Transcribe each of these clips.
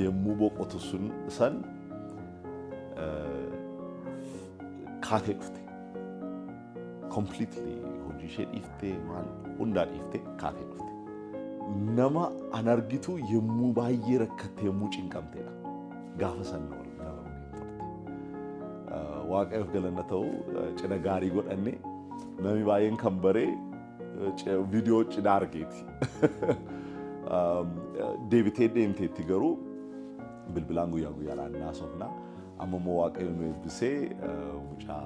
Yemmuu boqotu sun san kaatee dhufte. Completely hojii ishee dhiiftee maal hundaa dhiiftee kaatee dhufte. Nama an argitu yemmuu baay'ee rakkatte yemmuu cinqamtedha. Gaafa san na waliin dabaluu hin turte. Waaqayyoof galanna ta'u cina gaarii godhanne namni baay'een kan baree viidiyoo cidhaa argeeti. Deebitee deemteetti garuu bilbilaan guyyaa guyyaadhaan naasofna. Amma immoo waaqayyo nu eebbisee mucaa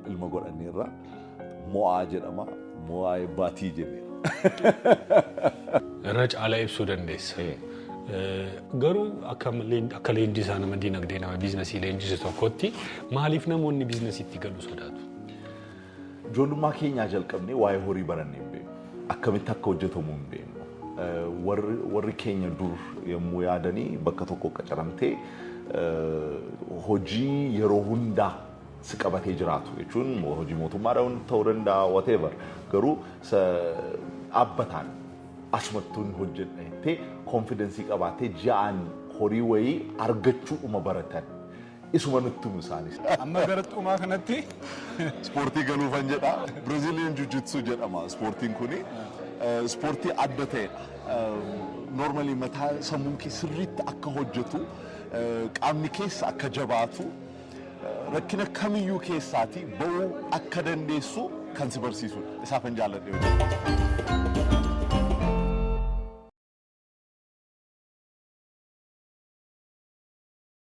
ilma godhanneerra mo'aa jedhama. Mo'aa eebbaatii jenneera. Irra caalaa ibsuu dandeessa. Garuu akka leenjisaa nama dinagdee nama biiznasii leenjisu tokkotti maaliif namoonni biiznasiitti galu sodaatu? Ijoollummaa keenyaa jalqabnee waa'ee horii barannee hin beeknu. Akkamitti akka hojjetamu hin beeknu. Warri keenya dur yommuu yaadanii bakka tokko qacaramtee hojii yeroo hundaa si qabatee jiraatu jechuun hojii mootummaadha ta'uu danda'a whatever garuu dhaabbataan asumattuun hojjedha jettee konfidensii qabaattee ji'aan horii wayii argachuudhuma baratan. isuma nutti himu isaanis. Amma gara xumaa kanatti ispoortii galuufan jedha. Brazilian Jiu-Jitsu jedhama ispoortiin kuni. Ispoortii adda ta'edha. Normally mataa sammuun kee sirriitti akka hojjetu, qaamni keessa akka jabaatu, rakkina kamiyyuu keessaati ba'uu akka dandeessu kan si barsiisudha. Isaafan jaalladhe hojjetu.